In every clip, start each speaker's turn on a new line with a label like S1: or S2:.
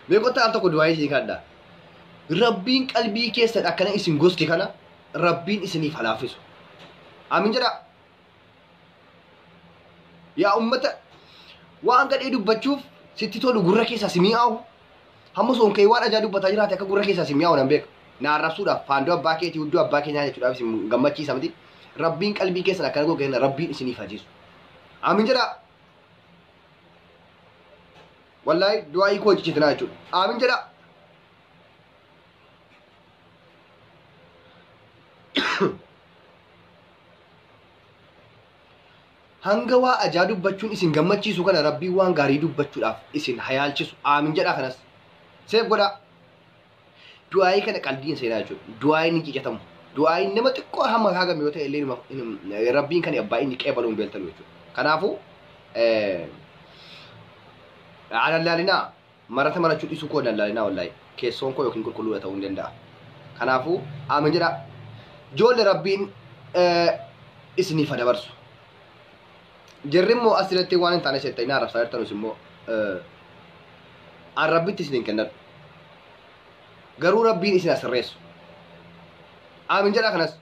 S1: Mee kottaa al tokko du'aa isin kadha. Rabbiin qalbii keessan akkana isin gosti kana Rabbiin isiniif halaaffisu. Amin jedha. Yaa ummata waan gadhee dubbachuuf sitti tolu gurra keessaa si mi'aawu. Hamma soon kee waan ajaa dubbataa jiraate akka gurra keessaa si mi'aawu nan beeka. Na arrabsuudhaaf faandoo abbaa keetii hudduu abbaa keenyaa jechuudhaaf isin gammachiisa miti. Rabbiin qalbii keessan akkana gogee rabbiin isiniif hajiisu. Amin jedha. Wallaahi du'aa hiikuu hojjechiitinaa jechuudha. Aamin jedhaa. hanga waa ajaa dubbachuun isin gammachiisu kana rabbiin waan gaarii dubbachuudhaaf isin hayaalchisu aamin jedhaa kanas seef godhaa Du'aayii kana qalbii hin seenaa jechuudha. Du'aayiin hin cicatamu. Du'aayiin nama xiqqoo hamma haagame yoo ta'e illee numa- hin- rabbiin kan abbaa inni qeebalu hin beeltalu jechuudha. Kanaafuu eh, alallaalinaa marata marachuu dhisuu koo alallaalinaa wallaahi keessoon koo yookiin qulqulluudha ta'uu hin danda'a. Kanaafuu aamin jedha. Joolle rabbiin eh, isiniif haa dabarsu. Jarri immoo as irratti waan hin taane seetta inni arrabsaa jirtanus immoo arrabbitti isin hin kennan. Garuu rabbiin isin asirreessu. Aamin jedha kanas.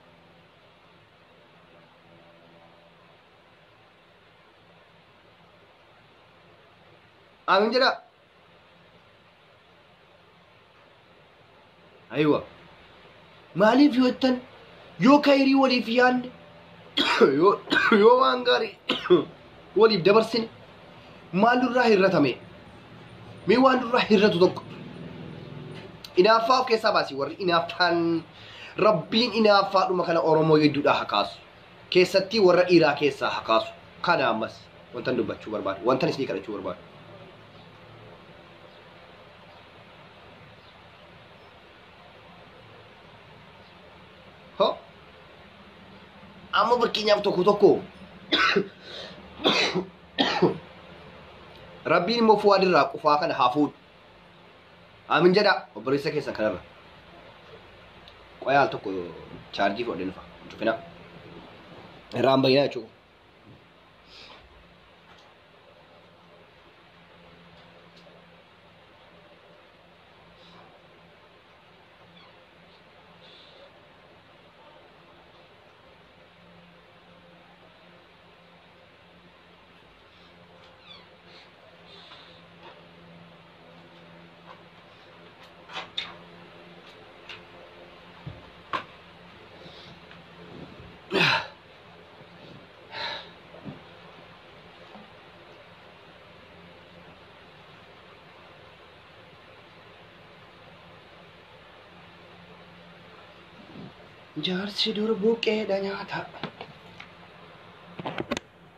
S1: Aamin jedha. Aywa. Maaliif yoo jettan yoo kayrii waliif yaadne yoo yoo waan gaarii waliif dabarsine maal nurraa hir'atame mee waan nurraa hir'atu tokko inaaffaa of keessaa baasi warri inaaffaan rabbiin inaaffaadhuma kana oromoo hedduudhaa hakaasu keessattii warra dhiiraa keessaa ha kaasu kana ammas wantan dubbachuu barbaadu wantan isinii kadhachuu barbaadu ho amma fakkeenyaaf tokko tokko rabbiin immoo fuwaadirraa qufaa kana haa fuudhu Aamin jedha obboleessa keessan kanarra. Qoyaa al tokko chaarjii fudhadhee nufa. Cufina. Irraan bayyinaa jechuudha. Jaarsi dur buqqeedha nyaata.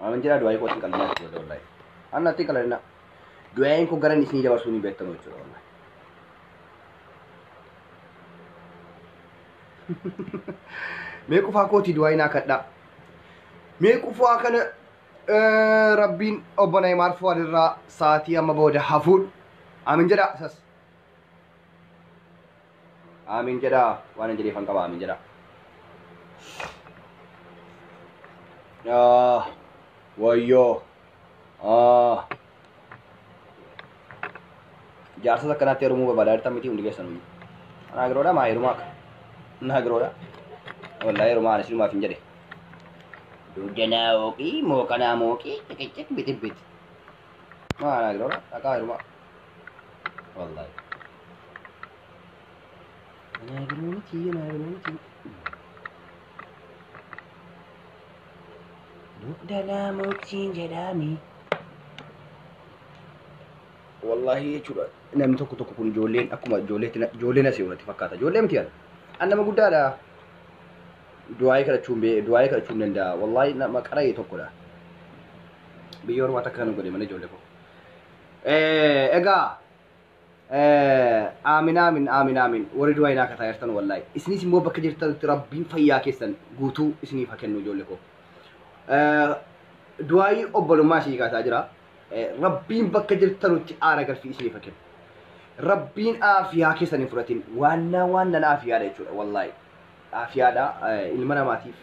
S1: Amin jedhaa du'aayii kootti hin qalmaa jechuudha wallaahi. Anna atti qalanna. Du'aayiin koo garan isinii dabarsuu ni beektamu jechuudha wallaahi. Mee qufaa kootii du'aayiin haa kadhaa. Mee qufaa kana eh, rabbiin obbo Nayimaar Fuwaad irraa sa'aatii amma booda hafuudha. Amin jedhaa isas. Aamiin jedhaa waan hin jedheefan qaba aamiin jedhaa. Ah, wayyoo. Ah. Jaarsas akkanatti heerumuu barbaada jirtan miti hundi keessan hundi. Anaa giroodha maa heerumaa akka. Anaa giroodha. Wallaahi heerumaa anis hirumaaf hin jedhe. Duudanaa ooqii mooqanaa mooqii ciqiccik bitibit. Maa anaa giroodha dhaqaa heerumaa. Wallahi. Anaa galuu miti, anaa galuu miti. Dugda laamotiin jedhaami. Wallahi jechuudha namni tokko tokko kun ijoolleen akkuma ijoolleetti na- ijoolleen asii irratti fakkaata. Ijoollee miti kana. An nama guddaadha. Du'aayii kadhachuun bee du'aayii kadhachuun danda'a. Wallahi nama qara'ee tokkodha. Biyya ormaa takka kan godhe malee ijoollee koo. egaa aamin aamin aamin aamin warri du'aa inaa kataa jirtan wallahi isinis immoo bakka jirtanitti rabbiin fayyaa keessan guutuu isiniif haa kennu ijoollee koo du'aayii obbolummaa isii kaasaa jira rabbiin bakka jirtanutti aara galfii isiniif haa kennu rabbiin aafiyaa keessan hin fudhatin waannaa waan nanaa afiyaadha jechuudha wallahi Aafiyaadha ilma namaatiif.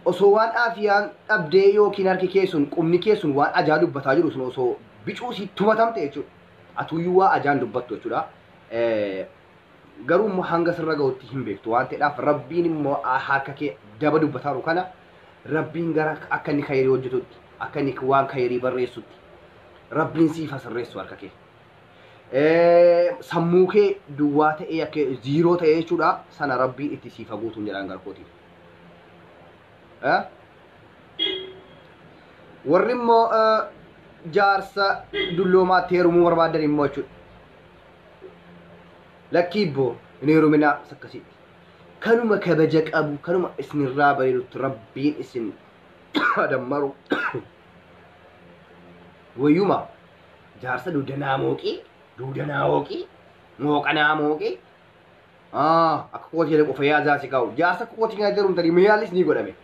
S1: Osoo waan aafiyaan dhabdee yookiin harki kee sun qubni kee sun waan ajaa dubbataa jiru sun osoo bicuu si tumatamte jechuudha. Atuuyyuu waa ajaan dubbattu jechuudha. Garuu immoo hanga sirra ga'utti hin beektu waan ta'eedhaaf rabbiin immoo harka kee daba dubbataaru kana rabbiin gara akka inni kayirii hojjetutti akka inni waan kayirii barreessutti rabbiin siif hasirreessu harka kee. sammuu kee duwwaa ta'ee akka ziiroo ta'ee jechuudha sana rabbiin itti siif haguutuun jedhaan garkootiif. Warri immoo jaarsa dulloomaatti heerumuu barbaadan immoo jechuudha. Lakkii ibboo hin heeruminaa akkasitti. Kanuma kabaja qabu kanuma isinirraa bareedutti rabbiin isin dammaru. Wayyuma jaarsa dugda naa mooqii dugda naa hooqii mooqa naa mooqii Ah, akka kooti jedhe qofa yaadaa si kaa'u. Jaarsa kooti kan itti herumtanii maalis ni godhame.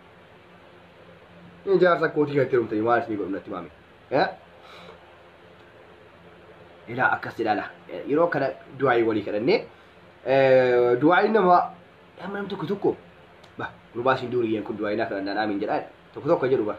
S1: Ni jaarsa kooti kan itti herumtanii maalis ni godhu natti maame. Eh? Ilaa akkas ilaala. Eh, Yeroo kana du'aayii walii kadhannee eh, du'aayiin nama nama nam tokko tokko ba gurbaa isin duuriyyeen kun du'aayii naa kadhannaan aamiin jedhaa tokko tokko jedhu bara.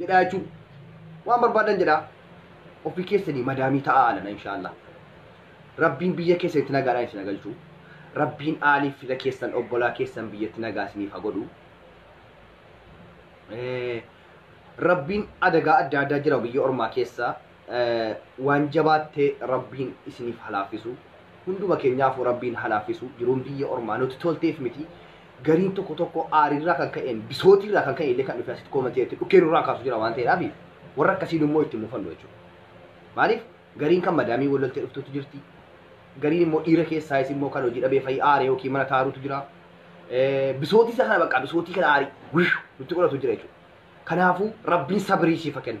S1: jedhaa jechuun waan barbaadan jedhaa ofii keessanii madaamii ta'aa alana inshaallah rabbiin biyya keessanitti nagaadhaan isin galchu rabbiin aaliif fira keessan obbolaa keessan biyyatti nagaa isiniif haa godhu Eh, rabbiin adagaa adda addaa jira biyya ormaa keessa waan jabaattee rabbiin isiniif halaaffisu hunduma keenyaafuu rabbiin halaaffisu jiruun biyya ormaa nuti tolteef miti gariin tokko tokko aariirraa kan ka'een bisootiirraa kan ka'e illee kan dhufe asitti koomantii irratti dhukkee nurraa kaasu jira waan ta'eedhaaf warra akkasiin immoo itti mufannu jechuudha. Maaliif gariin kan madaamii wal loltee dhuftutu jirti gariin immoo dhiira keessaayis immoo kan hojii dhabee fayyii aaree yookiin mana taaruutu jira. Bisootii isa kana bakka bisootii kana aarii nutti godhatu jira jechuudha. Kanaafuu rabbiin sabirii siif kennu.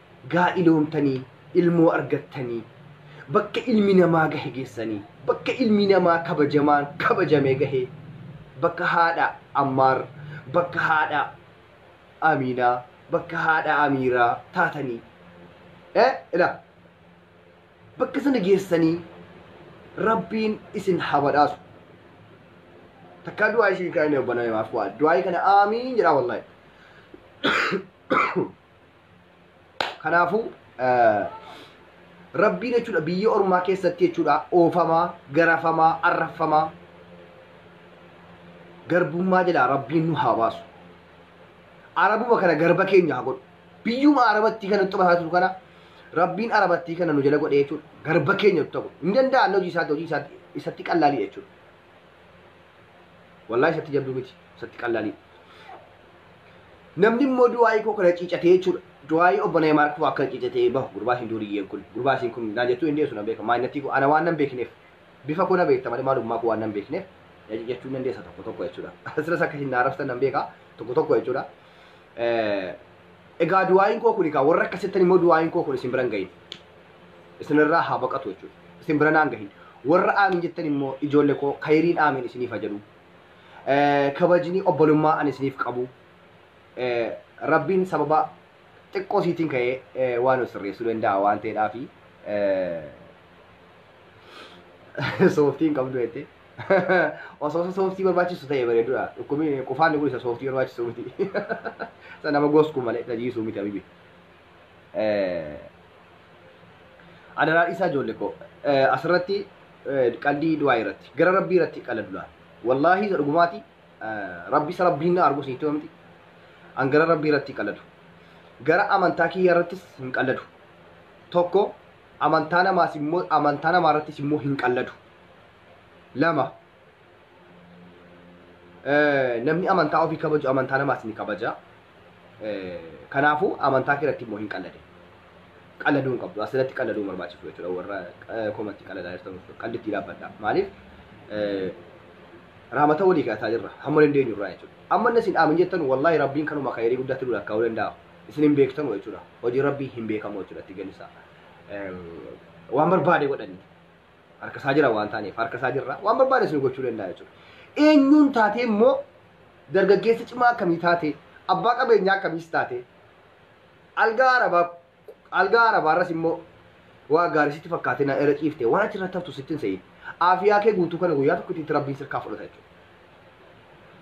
S1: gaa'iloomtanii ilmoo argattanii bakka ilmi namaa gahe geessanii bakka ilmi namaa kabajamaan kabajamee gahee bakka haadha ammaar bakka haadha amiinaa bakka haadha amiiraa taatanii eh ila bakka sana geessanii rabbiin isin haa badhaasu takkaa du'aa isin kaa'inee obbanaa himaaf waa du'aa kana aamiin jedhaa wallaahi Kanaafuu rabbiin jechuudha biyya ormaa keessatti jechuudha oofamaa, garafamaa, arraffamaa garbummaa jalaa rabbiin nu haa baasu. Arabuma kana garba keenya haa godhu. Biyyuma arabattii kana nutti basaa jiru kana rabbiin arabattii kana nu jala godhee jechuudha garba keenya nutti haa godhu. Hin danda'an hojii isaatti hojii isaatti isatti qallaalii jechuudha. Wallaahi isatti jabduu miti. Isatti qallaalii. Namni immoo du'aayii koo kana ciicatee jechuudha. Du'aayii obbo Neemaar koo akka ciicatee bahu gurbaa isin duuriyyeen kun. Gurbaa isin kun naan jettuu hin dhiyeessu nan beeka. Maanyattii koo ana waan nan beekneef. Bifa koo na beekta malee maalummaa koo waan nan beekneef. Jechuun dandeessa tokko tokko jechuudha. Asiras akka isin na arrabsitan nan beeka tokko tokko jechuudha. Egaa du'aayin koo kuni kaa warra akkas jettan immoo du'aayin koo kun isin biran gahin. Isinirraa haa baqatu jechuudha. Isin bira naan gahin. Warra aamiin jettan immoo ijoollee koo kayiriin aamiin isiniif haa jedhu. Kabajni obbolummaa ani isiniif qabu. Rabbiin sababa xiqqoo siitiin ka'ee waan of sirreessuu danda'a waan ta'eedhaafi. Sooftiin qabdu jettee. Osoo isa sooftii barbaachisu ta'e bareedudha. Dhukkubni qufaan kun isa sooftii barbaachisu miti. Isa nama goskuu malee isa jiisuu miti abibi. Adaraa dhiisaa ijoollee koo asirratti qalbii du'aa irratti gara rabbii irratti qaladudha. Wallaahi isa dhugumaati rabbi isa rabbiin na arguu sitti himti. An gara rabbii irratti qaladu. Gara amantaa kiyya irrattis hin qaladu. Tokko amantaa namaas immoo amantaa namaa irrattis immoo hin qalladu. Lama eh, namni amantaa ofii kabaju amantaa namaas ni kabaja. Eh, Kanaafuu amantaa kee irratti immoo hin qallade. Qalladuu hin qabdu. Asirratti qalladuu hin barbaachisu jechuudha warra eh, komatti qalladaa jirtan qallitti dhaabbadha. Maaliif? Eh, Raamata walii kadhataa jirra. Hamma dandeenyu irraa jechuudha. Amma inni isin dhaamin jettan wallaahi rabbiin kanuma kayrii guddaatti nu lakkaa'uu danda'a. isin hin beektamu jechuudha. Hojii rabbii hin beekamu jechuudha itti galli isaa. Eem, Waan barbaade godhanni. Harka isaa jira waan taaneef harka isaa jirra waan barbaade isin gochuu danda'a jechuudha. Eenyuun taatee immoo dargaggeessa cimaa akkamii taatee abbaa qabeenyaa akkamiis taatee algaa arabaa algaa arabaarras immoo waa gaarii sitti fakkaatee na irra ciifte waan achi irratti haftu sitti hin se'in. Aafiyaa kee guutuu kana guyyaa tokkotti rabbiin sirkaa fudhata jechuudha.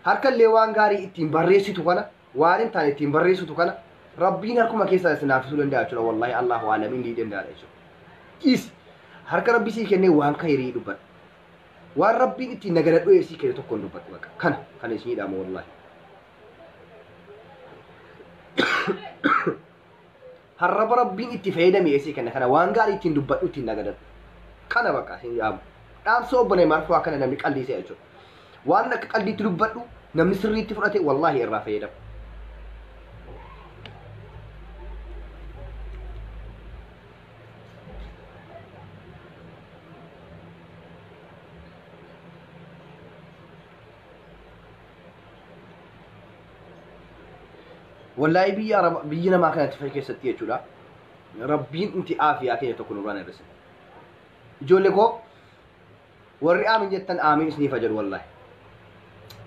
S1: Harka illee waan gaarii ittiin barreessitu kana waan hin taane ittiin barreessutu kana rabbiin harkuma keessaa isin laaffisuu danda'a jechuudha wallaahi allahu aalam inni danda'aadha jechuudha dhiis harka rabbi sii kennee waan kayirii dubbadha waan rabbiin ittiin nagana dho'ee sii kenne tokkoon dubbadha bakka kana kan isin hidhaama wallaahi Harraba rabbiin itti fayyadami eesii kenna kana waan gaarii ittiin dubbadhu ittiin nagadadhu. Kana bakka isin dhaamu. Dhaamsa obbo Neeymaar fa'aa kana namni qalbii se'a jechuudha. Waan akka qalbiitti dubbadhu namni sirriitti fudhate wallaahi irraa fayyadama. Wallahi biyya araba biyya namaa kanatti fayya keessatti jechuudha. Rabbiin inti aafiyaa keenya tokko nurraan hir'ise. Ijoollee koo warri aamin jettan aamin isiniif haa jedhu wallahi.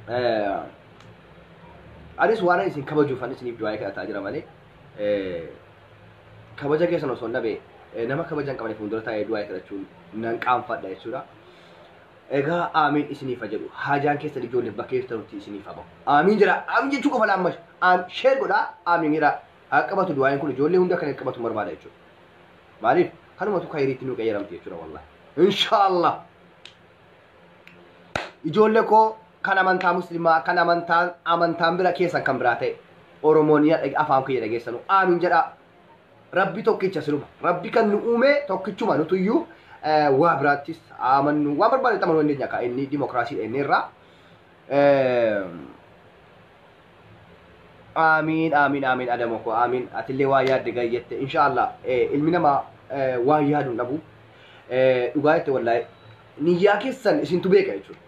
S1: Eh, Anis waan isin kabajuufan isiniif du'aa kadhataa jira malee eh, kabaja keessan osoo hin dhabe eh, nama kabaja hin qabne fuuldura taa'ee du'aa kadhachuun nan qaanfadha jechuudha. Egaa aamiin isiniif haa jedhu haajaan keessan ijoolleef bakka jirtanutti isiniif haa bahu. Aamiin jedhaa aamiin jechuu qofa laamma aam sheer godhaa aamiin hiraa haa qabatu du'aayin kun ijoollee hunda kan qabatu barbaada jechuudha. Maaliif kanumatu kayiriitti nu qayyaramti jechuudha wallahi. Inshaallah. Ijoollee koo kan amantaa muslimaa kan amantaan amantaan bira keessan kan biraa ta'e Oromoon afaan kiyya dhageessanu aamiin jedhaa Rabbi tokkicha siluma. Rabbi kan nu uume tokkichuma nutuyyuu eh, waa biraattis amannu waan barbaanne itti amanuu dandeenya akka inni dimookiraasiidha inni irraa. Eh, Aamiin aamiin aamiin adamoo koo aamiin atillee waa yaadde gaarii jette inshaallah eh, ilmi namaa eh, waa yaadu hin dhabu Eh, dhugaa jette wallahi niyyaa keessan isintu beeka jechuudha.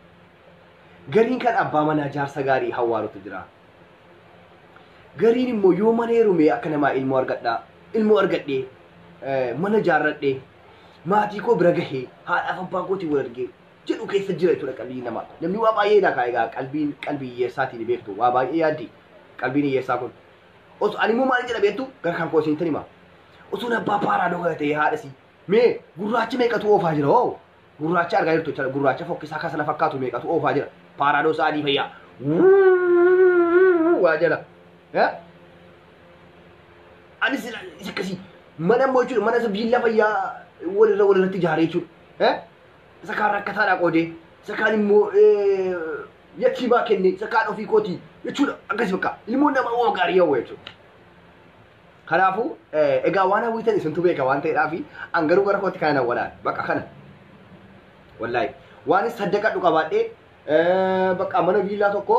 S1: Gariin kan abbaa manaa jaarsa gaarii hawwaalutu jira. Gariin immoo yoo mana heerumee akka namaa ilmoo argadhaa ilmoo argadhee eh, mana ijaarradhee maatii koo bira gahee haadhaaf abbaa kootiin wal argee jedhu keessa jira jechuudha qalbiin namaa. Namni waa baay'ee ilaa kaa egaa qalbiin qalbii hiyyeessaatiin beektu waa baay'ee yaaddi qalbiin hiyyeessaa kun. Oso ani immoo maal jedha beektu gara kan koo isintan hima. Osoo abbaa paaraadoo kana ta'ee haadha isii mee gurraacha meeqatu oofaa jira hoo Gurraacha argaa jirtu jechaadha. Gurraacha fokkisaa kan sana fakkaatu meeqatu oofaa jira. Paaraadoosa adii fayyaa. Wuuuu waa jala. Eh? Anis isa isa akkasii. Mana immoo jechuudha. Mana isa biillaa fayyaa walirra walirratti ijaaree jechuudha. Eh? Isa kaan rakkataadhaa qoodee. Isa kaan immoo eh, yatiimaa kennee. Isa kaan ofii kootii jechuudha. Akkasii bakka. Ilmoon nama waan gaarii hawwa jechuudha. Kanaafuu egaa waan hawwitan isintu beeka waan ta'eedhaa fi an garuu gara kootti kana walaan bakka kana. Wallaahi waan saddaqadhu qabaadhee bakka mana viillaa tokko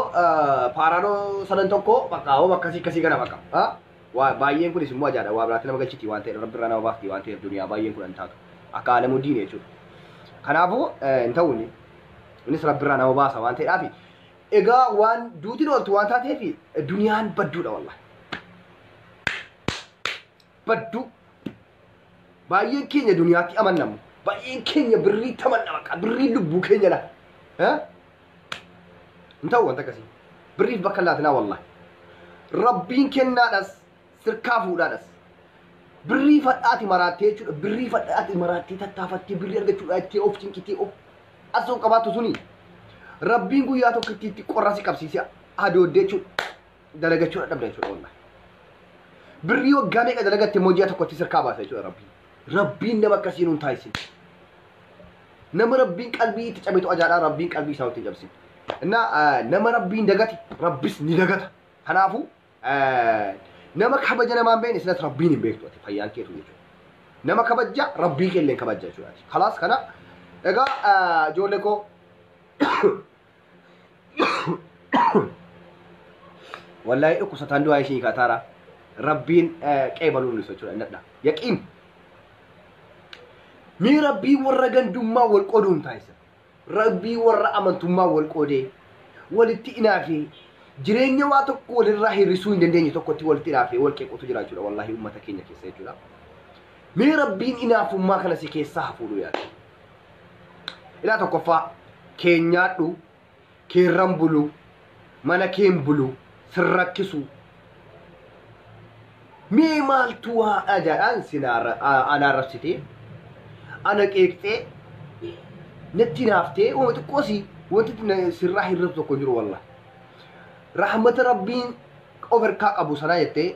S1: paaraadoo sadan tokko bakka hoo akkasii akkasii kana bakka. Waa baay'een kunis immoo ajaadha waa biraatti nama galchiti waan ta'eef rabbi irraa nama baafti waan ta'eef duniyaa baay'een kun an taatu akka alamuu diine jechuudha. Kanaafuu hin ta'uuni. Innis rabbi irraa nama baasa waan ta'eedhaa fi Egaa waan duutiin ooltu waan taateef duniyaan badduudha wallahi. Badduu. Baay'een keenya duniyaatti amannamu. Baay'een keenya birrii tamanna baqa. Birrii lubbuu keenya laata. Eh? Hin ta'u wanta akkasii. Birriif bakka hin laatinaa wallahi. Rabbiin kennaadhas sirkaa fuudhaadhas. Birrii fadhaati maraattee jechuudha. Birrii fadhaati maraattee tattaafattee birrii argachuudha ittee of cinqitee of asoo qabaattu suni. Rabbiin guyyaa tokko itti itti qorra si qabsiisee adooddee jechuudha. Dalagachuudha dhabda jechuudha wallahi. Birrii waggaa meeqa dalagatte immoo ji'a tokkotti sirkaa baasa jechuudha rabbiin. Rabbiin nama akkasii nuun taasise. Nama rabbiin qalbii itti cabetu ajaadhaa rabbiin qalbii isaa itti cabsine. Innaa nama rabbiin dagate rabbis ni dagata. Kanaafuu Nama kabaja namaan beekne silas rabbiin hin beektu ati fayyaan keetu jechuudha. Nama kabaja rabbii keellee kabaja jechuudha. Kalaas kana egaa ijoollee koo wallahi dhukkubsataan du'aa ishii kaataara rabbiin qeebaluun ibsa jechuudha innadha. Yaqiin. Mee rabbii warra gandummaa wal qoduun taasisa. Rabbii warra amantummaa wal qoodee, walitti inaafee, jireenya waa tokko walirraa hir'isuu hin dandeenye tokkotti walitti inaafee wal qeequtu jira jechuudha wallaahi uummata keenya keessa jechuudha. Mee rabbiin inaafummaa kana si keessaa hafuudhu yaada. Ilaa tokkoffaa keenyaadhu keerran buluu, mana keen buluu, sin rakkisuu. Mee maaltu waadha jedhaan sin ana arrabsitee, ana qeeqxee, natti hinaaftee, uma xiqqoo si wanti sirraa hir'atu tokko jiru wallah. Rahmata Rabbiin of harkaa qabu sanaa jettee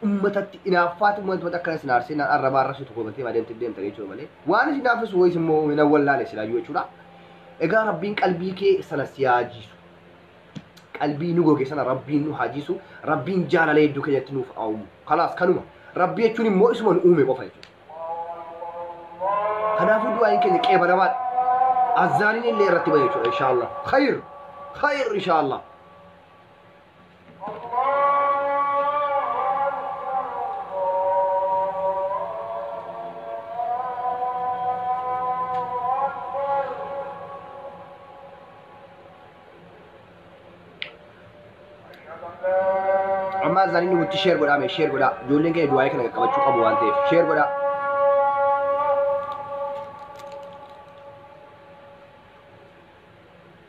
S1: ummatatti inaaffaatu wanti wanti akkana isin aarsee naan arrabaa arrabsitu komatee maa deemtee deemtan jechuudha malee waan isin naaffisu wayis immoo hin awwallaale silaayyuu jechuudha. Egaa rabbiin qalbii kee sana si haa jiisu. Qalbii nu goge sana rabbiin nu haa jiisu. Rabbiin jaalala hedduu keenyatti nuuf haa uumu. Kanaas kanuma. Rabbii jechuun immoo isuma nu uume qofa jechuudha. Kanaafuu du'aayin keenya qeebalamaadha. Azzaaniin illee irratti bahe jechuudha inshaallah. Khayr! Khayr inshaallah. Ammaa isaanii inni guutti sheer godhaa mee sheer godhaa ijoolleen keenya du'aayee kana qaqqabachuu qabu waan ta'eef sheer godhaa.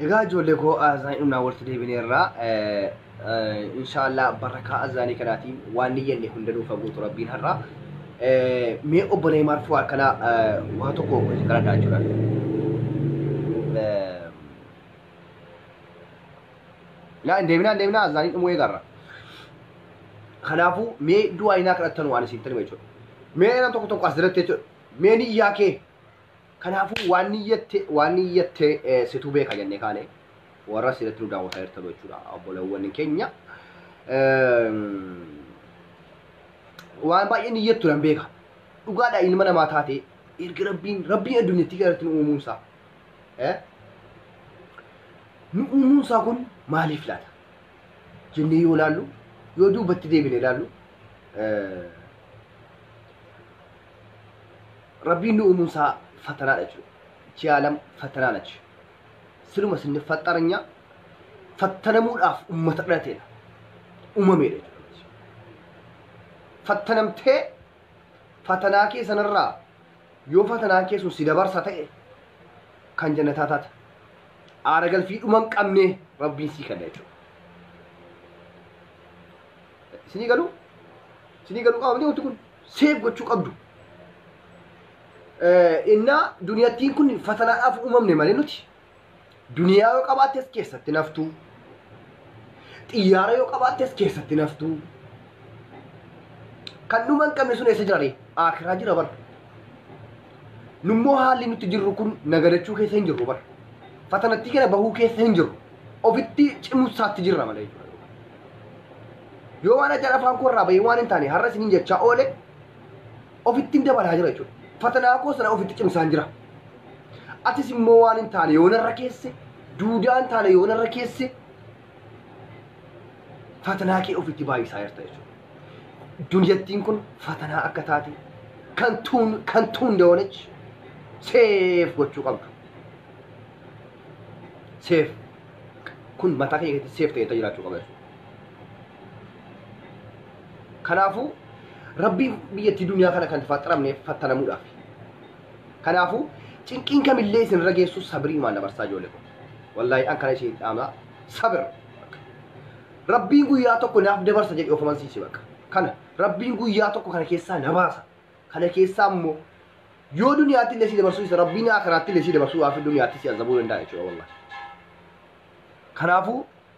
S1: Egaa ijoollee koo azaanii humnaa walitti deebineerra. Inshaallah barakaa azaanii kanaatiin waan ni yanne hunda nuuf haguutu rabbiin har'a. Mee obbo Neeymaar fuu akkana waa tokko isin kadhadhaa jechuudha. Laa hin deebinaa hin deebinaa azaanii dhumuu eegarra. Kanaafuu mee du'aa inaa kadhattan waan isin tanuma jechuudha. Mee nama tokko tokko as jiratti jechuudha. Mee niyyaa kee Kanaafuu waan niyyatte waan niyyatte situ beeka jennee kaane warra sirriitti nu daawwataa jirtan jechuudha obboleewwan keenya. Waan baay'ee niyyattu nan beeka. Dhugaadha ilma namaa taate erga rabbiin rabbiin addunyattii kanarratti nu uumuun isaa. Nu uumuun isaa kun maaliif laata? Jennee yoo ilaallu yoo duubatti deebinee ilaallu rabbiin nu uumuun isaa fatanaadha jechuudha. Ichi aalam fatanaa nachi. Siluma isin faxaranya fattanamuudhaaf ummata dhalateedha. Uumameedha jechuudha. Fattanamtee fatanaa kee sanarraa yoo fatanaan kee sun si dabarsa ta'e kan jannataa taata. Aara galfii dhuma hin qabne rabbiin sii kenna jechuudha. Isinii galuu? Isinii galuu qaama miti wanti kun? seef gochuu qabdu. Innaa duniyattiin kun fatanaadhaaf uumamne malee nuti duniyaa yoo qabaattes keessatti naftuu xiyyaara yoo qabaattes keessatti naftuu kan dhuma hin qabne sun eessa jira ree akiraa jira bara nummoo haalli nuti jirru kun nagadachuu keessa hin jirru bara fatanattii kana bahuu keessa hin jirru ofitti cimusaatti jirra malee jechuudha. Yoo waan ajaan afaan koo irraa bahee waan hin taane har'a isiniin jechaa oole ofittiin dabalaa jira jechuudha. Fatanaa koo sana ofitti cimsaan jira. Atis immoo waan hin taane yoo narra keesse duudaa hin taane yoo narra keesse fatanaa kee ofitti baay'isaa jirta jechuudha. Duniyattiin kun fatanaa akka taate kan tuun kan tuun እንደሆነች seef gochuu qabdu. Seef kun mataa keenya keessatti seef ta'ee jiraachuu qaba jechuudha. Kanaafuu rabbii biyyattii duniyaa kana kan faxaramne fattanamuudhaaf. Kanaafuu cinqiin kamillee isin irra geessu sabriimaan dabarsaa ijoollee koo. Wallaahi an kana isin dhaamaa sabir. Rabbiin guyyaa tokko naaf dabarsa jedhe of amansiisi bakka. Kana rabbiin guyyaa tokko kana keessaa na baasa. Kana keessaa immoo yoo duniyaatti illee si dabarsuu isa rabbiin akiraatti illee si dabarsuu waafi duniyaatti si azabuu danda'a jechuudha wallaahi. Kanaafuu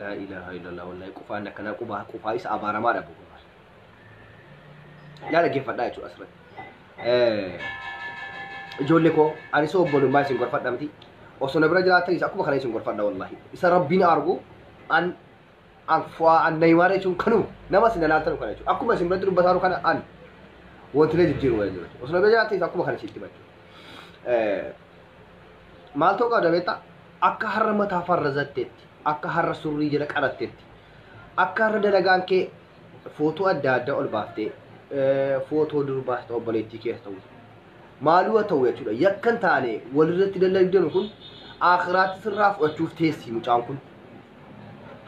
S1: laa ilaaha illallah wallahi qufaan akkanaa qubaa qufaa isa abaaramaa dhabu yaa dhaggeeffadhaa jechuudha asirratti ijoollee koo ani soo obbolummaa isin gorfadha miti osoo na bira jiraatanis akkuma kana isin gorfadha wallahi isa rabbiin argu an an fu'aa an nayimaara jechuun kanuma nama isin ilaaltan kana jechuudha akkuma isin biratti dubbataa jiru kana an wantilee jijjiiru wayii jiru osoo nama jiraatee akkuma kana sitti hima jechuudha maal ta'uu qabda beektaa akka har'a mataa farrazatteetti akka har'a surrii jala qaratteetti akka har'a dalagaan kee footoo adda addaa ol baaftee footoo durbaa ta'u obboleettii keessa ta'u maaluu haa ta'u jechuudha yakkan taane walirratti dalagdan kun akiraatti sirraa fudhachuuf teessi mucaan kun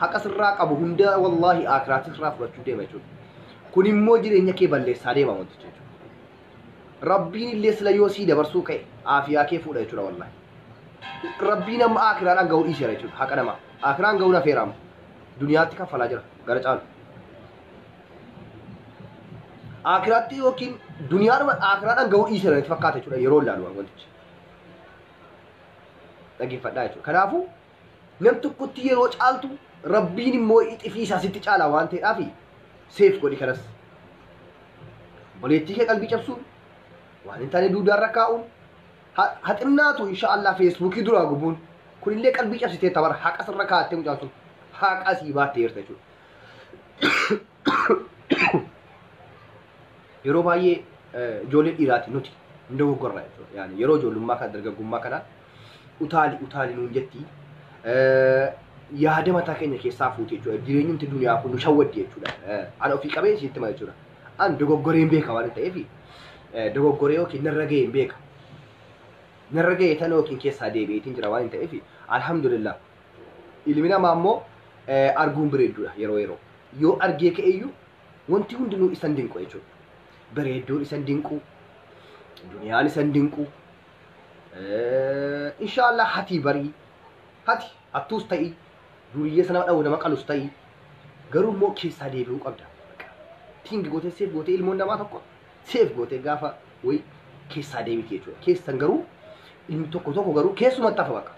S1: haqa sirraa qabu hunda wallaahi aakiraatti sirraa fudhachuu deema jechuudha. Kun immoo jireenya kee balleessaa deema wanti jechuudha. Rabbiin illee sila yoo sii dabarsuu ka'e aafiyaa kee fuudha jechuudha wallaahi. Rabbiin amma aakiraadhaan ga'uu dhiiseera jechuudha haqa namaa. Aakiraan ga'uun hafeera amma. Duniyaatti kaffalaa jira gara caalu. Aakiraatti yookiin duniyaadhuma aakiraadhaan ga'uu dhiiseera natti fakkaata jechuudha yeroo ilaalu wantichi. Dhaggeeffadhaa jechuudha. Kanaafuu Nam tokkotti yeroo caaltu rabbiin immoo ixifii isaa sitti caalaa waan ta'eedhaafi seef godhi kanas. Boleettii kee qalbii cabsuun waan hin taane duudaarra kaa'uun ha- haxinnaatu insha Allah feesbuukii duraa gubuun kunillee qalbii cabsitee tabar haqa sirra kaa'attee mucaan sun haqa sii baattee jirta jechuudha. yeroo baay'ee ijoollee dhiiraati nuti hin dogoggorra jechuudha. Yaani yeroo ijoollummaa kana dargaggummaa kana utaali utaali nuun jetti yaada mataa keenya keessaa fuuti jechuudha. Jireenyumti duniyaa kun nu shawwaddi jechuudha. Ana ofii qabee isiitti hima jechuudha. An dogoggoree hin beeka waan ta'eef dogoggoree yookiin narra ga'e hin beeka. Narra ga'e tan yookiin keessaa deebi'eetiin jira waan ta'eef alhamdulillah Ilmi namaa immoo eh, arguun bareedduudha yeroo yeroo. Yoo argee ka'eyyuu wanti hundinuu isan dinqu jechuudha. Bareedduun isan dinqu, duniyaan isan dinqu. Eh, Inshaallah hatii barii, hati hattuus ta'ii, duriyyee sana dhawu nama qalus ta'ii, garuu immoo keessaa deebi'uu qabda. Bakka. Tingi gootee seef gootee ilmoon namaa tokko seef gootee gaafa wayi keessaa deebiti jechuudha. Keessan garuu ilmi tokko tokko garuu keessumatti hafa bakka.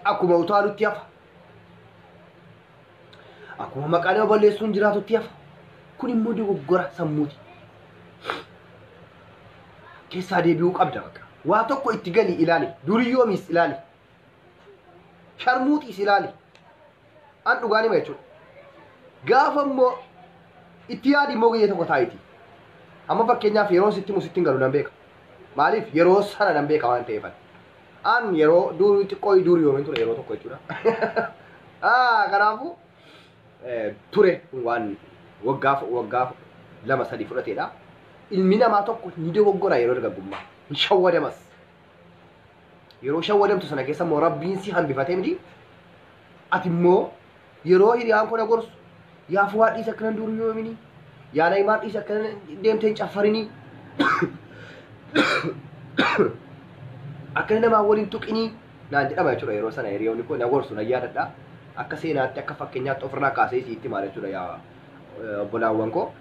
S1: akkuma utaalutti hafa. Akkuma maqaa nama balleessuun jiraatutti hafa. Kun immoo dogoggora sammuuti. Keessaa deebi'uu qabda bakka. Waa tokko itti gali ilaali. Duriyoomis ilaali. Sharmuuxiis ilaali. an dhugaan hima jechuudha. Gaafa immoo itti yaadi immoo guyyaa tokko taa'iti. Amma fakkeenyaaf yeroo sitti himu sitti hin galu nan beeka. Maaliif yeroo sana nan beeka waan ta'eefan. An yeroo durii xiqqoo durii yoomiin ture yeroo tokko jechuudha. Ah, Kanaafuu eh, ture waan waggaa waggaa lama sadii fudhateedha. Ilmi namaa tokko ni dogoggora yeroo dargaggummaa. Hin shawwadamas. Yeroo shawwadamtu sana keessa immoo rabbiin si hambifatee miti. Ati immoo yeroo hiriyaan koo na gorsu yaa fuwaa dhiisa akkanan duuru yoomini yaa nayimaan dhiisa akkanan deemteen caffarinii akkana namaa waliin tuqinii naan jedhama jechuudha yeroo sana hiriyoonni koo na gorsu na yaadadha akka seenaatti akka fakkeenyaatti ofirraa kaasee siitti maal jechuudha yaa eh, obbolaawwan koo.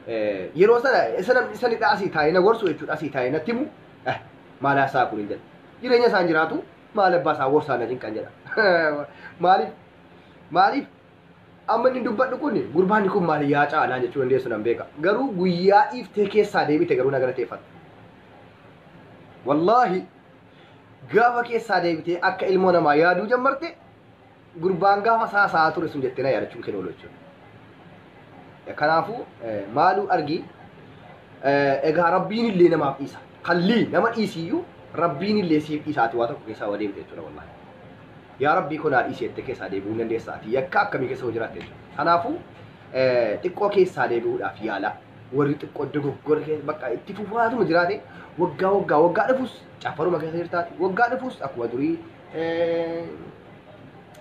S1: Eh, Yeroo sana isan isanidha asii taa'ee na gorsu jechuudha asii taa'ee natti himu Eh, maal haasaa kun hin jedha. Jireenya isaan jiraatu maal abbaa isaa worsaa na cinqan jedha. Maaliif? Maaliif? Amma inni dubbadhu kun gurbaan kun maal yaa caalaa jechuu dandeessu nan beeka. Garuu guyyaa dhiiftee keessaa deebite garuu na galateeffadha. Wallaahi gaafa keessaa deebitee akka ilmoo namaa yaaduu jammarte gurbaan gaafa isaa haasa'aa ture sun jettee na yaadachuun kee oolu jechuudha. Kanaafuu maaluu argii egaa rabbiin illee namaaf dhiisa. Kallii nama dhiisiyyuu rabbiin illee siif dhiisaati waa tokko keessaa wadeemte jechuudha wallaahi. Yaa rabbii kun haa dhiisi jettee keessaa deebi'uu hin dandeessaa ati yakka akkamii keessa hoo jiraatte jechuudha. Kanaafuu xiqqoo keessaa deebi'uudhaaf yaalaa. Warri xiqqoo dogoggora keessa bakka itti fufaatuma jiraate waggaa waggaa waggaa dhufus caffaruma keessa jirtaati. Waggaa dhufus akkuma durii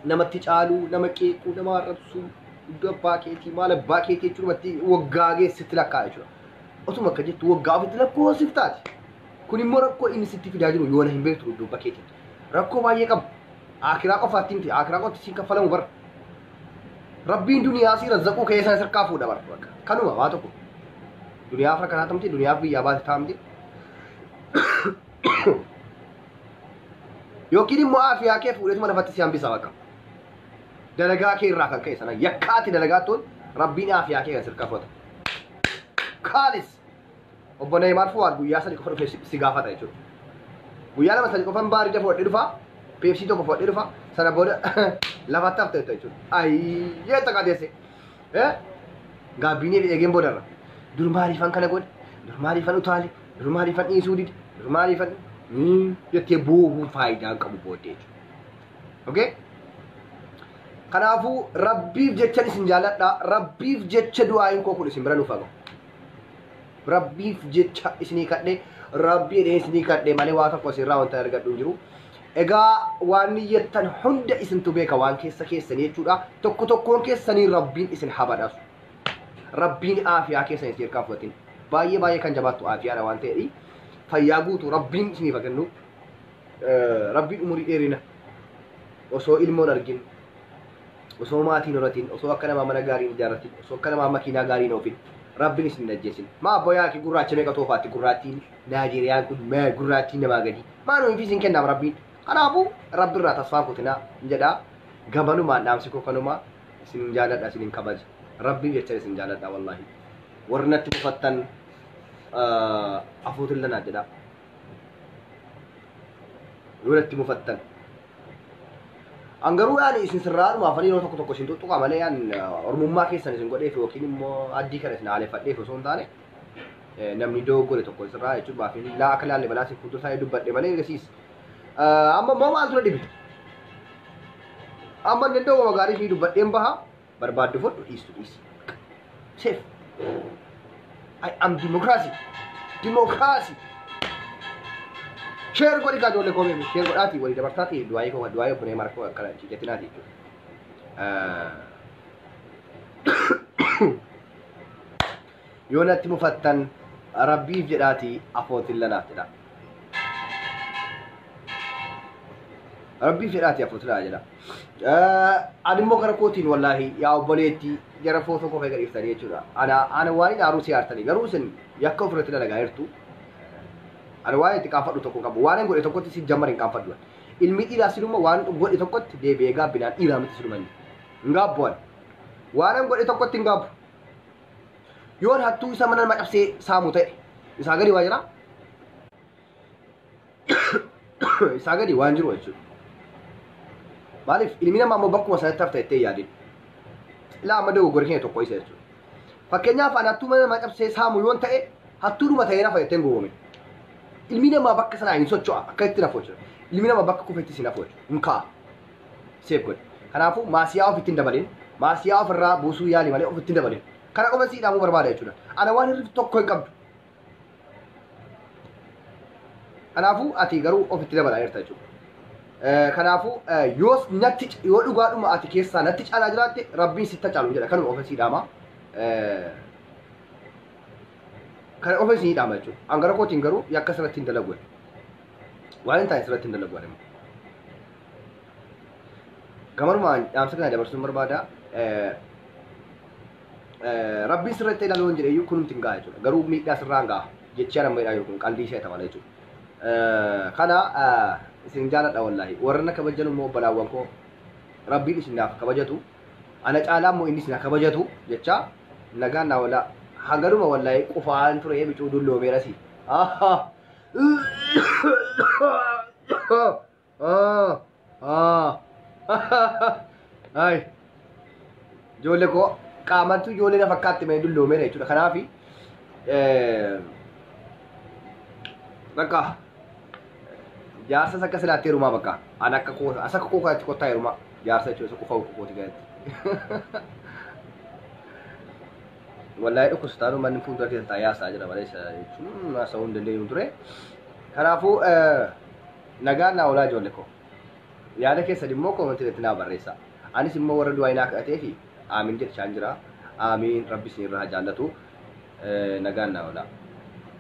S1: namatti caaluu, nama qeequu, nama arrabsuu, iddoo abbaa keetii, maal abbaa keetii jechuun namatti waggaa geessitti lakkaa jechuudha. Otuma akka jettu waggaa ofitti lakkoofsif taati. Kun immoo rakkoo inni sitti fidaa jiru yoona hin beektu iddoo abbaa keetii. Rakkoo baay'ee qaba. Akiraa qofaatti miti, akiraa qofaatti siin kaffalamu bara. Rabbiin duniyaa si razzaquu kee sana sirkaa fuudha bara. Bakka. Kanuma waa tokko. Duniyaaf rakkataa tamti, duniyaaf biyyaa baate taamti. yookiin immoo aafiyaa kee fuudheetuma lafatti si hambisa bakka dalagaa kee irraa kan ka'e sana yakkaati dalagaa tun rabbiin aafiyaa kee kan sirkaa fudhata kaalis obbo Neeymaar Fuwaad guyyaa sadi qofa dhufee si- si gaafata jechuudha guyyaa lama sadi qofan baarija fudhadhee dhufa peepsii tokko fudhadhee dhufa sana booda lafatti hafte jetta jechuudha ayyee xaqateesse gaabbiinee fi eegeen boodarra dur maaliifan kana godhe dur maaliifan utaale Dur maaliifan dhiisuu dide? Dur maaliifan jettee boohuun faayidaa hin qabu booddee jechuudha. Okay? Kanaafuu rabbiif jechan isin jaaladha. Rabbiif jecha du'aayin koo kun isin bira nuuf haga. Rabbiif jecha isinii kadhe rabbii jedhee isinii kadhe malee waa tokko isinirraa wanta argadhu hin jiru. Egaa waan niyyattan hunda isintu beeka waan keessa keessanii jechuudha. Tokko tokkoon keessanii rabbiin isin habadhasu. Rabbiin aafiyaa keessan isin irkaa fudhatin. Baay'ee baay'ee kan jabaattu aafiyaadha waan ta'eedhi. Fayyaa guutuu Rabbiin isiniif haa kennu. Eh, Rabbiin umurii dheerina osoo ilmoon argin osoo maatiin horatiin osoo akka namaa mana gaariin ijaarratin osoo akka namaa makiinaa gaariin oofin Rabbiin isin hin ajjeesin. Maa abboo yaaki gurraacha meeqa toofaatti gurraattiin Naajeeriyaan kun mee gurraattiin namaa gadi. Maa nuyi fi isin kennaaf Rabbiin. Kanaafuu Rabbi irraa tasfaan kutinaa hin jedhaa. Gabanumaan dhaamsi koo kanumaa. isin jaaladha isin hin kabaja rabbii jecha isin jaaladha wallahi warri natti mufattan afuutin lanaa jedha yoo natti mufattan an garuu yaani isin sirraadhuma afanii yeroo tokko tokko isin tuttuqa malee yaan ormummaa keessan isin godheef yookiin immoo addii kana isin haaleffadheef osoo hin taane namni dogoggore tokko sirraa jechuun maafi laa akka laalle balaa isin fuuldura isaa dubbadhe malee eegasiis Amma immoo maaltu na dhibe? Amma danda'u wama gaarii fi dubbadheen baha barbaaddu fudhu dhiistu dhiisi. Seef. I am democracy. Democracy. Sheer godhi kaa ijoollee koomee fi sheer godhaatii walii dabartaatii du'aayii koo du'aayii obbolee mara koo akkana jijjatinaatii jechuudha. Yoo natti mufattan Rabbiif jedhaatii afootilla naaf jedhaa. Rabbiif jedhaatii afootilla jedha. Ani immoo gara kootiin wallaahi yaa obboleetti gara footoo koo fayyada dhiftanii jechuudha. Ana ana waan hin aaruu si aartanii garuu isin yakka ofirratti dalagaa jirtu. Ani waan itti qaanfadhu tokko qabu waan hin godhe tokkotti si jammar hin qaanfadhu. Ilmi dhiiraa sinuma waan godhe tokkotti deebi'ee gaabbinaan dhiiraa miti sinuma inni. Hin gaabbu ani. Waan hin godhe tokkotti hin gaabbu. Yoo hattuu isa mana nama cabsee saamu ta'e isaa gadi waa jiraa? isaa gadi waan jiru jechuudha. Maaliif ilmi namaa immoo bakkuma sanatti hafta jettee yaadin. Ilaa amma dogoggora keenya tokko isa jechuudha. Fakkeenyaaf ani hattuu mana namaa cabsee saamu yoon ta'e hattuudhuma ta'ee nafa jetteen goowwame. Ilmi namaa bakka sanaa hin socho'a akka itti nafu jechuudha. Ilmi namaa bakka kufetti si nafu jechuudha. Hin ka'a. seef godhi. Kanaafuu maasiyaa ofitti hin dabalin. Maasiyaa ofirraa buusuu yaali malee ofitti hin dabalin. Kana qofa si idhaamuu barbaada jechuudha. Ana waan hir'iftu tokko hin qabdu. Kanaafuu ati garuu ofitti dabalaa jirta jechuudha. Eh, Kanaafuu eh, yoo natti yoo dhugaadhuma ati keessaa natti caalaa jiraatte rabbiin sitta caalu jedha kanuma ofitti idhaama. Eh, Kana ofitti si idhaama jechuudha. An gara kootiin garuu yakka sirratti hin dalagu. Waan hin taane sirratti hin dalagu ani. Gamanumaan dhaamsa kana dabarsuun barbaada. Rabbiin sirratti ilaaluu hin jedheyyuu kunumti hin ga'a jechuudha. Garuu miidhaa sirraan ga'a. Jechii ana miidhaa yookiin qalbii ishee ta'an jechuudha. Kana isin jaaladha wallaahi. Warra na kabajan immoo obbolaawwan koo rabbiin isin naaf kabajatu. Ana caalaa immoo inni isin kabajatu jecha nagaan naa walaa. Hanganuma wallaahi qufaan ture bicuu dulloomeerasi. Ah, ah, ay. Ijoollee koo qaamattu ijoollee na fakkaatti mee dulloomeera jechuudha. Kanaaf bakka jaarsas akka silaatti heerumaa bakka an akka koo as akka koo kanatti kottaa heerumaa jaarsa jechuudha isa qofa uffuu kooti kanatti. Wallahi dhukkubsataan manni fuuldura keessan taa'ee haasaa jira malee isa jechuun haasa'uu hin dandeenyu ture. Kanaafuu. eh, Nagaan naa olaa ijoolle koo. Yaada keessan immoo comment irratti naa barreessaa. Anis immoo warra du'aayi naa kadhateefi Aamiin jedhchaan jira. Aamiin rabbi isin irra haa jaallatu. Nagaan naa olaa.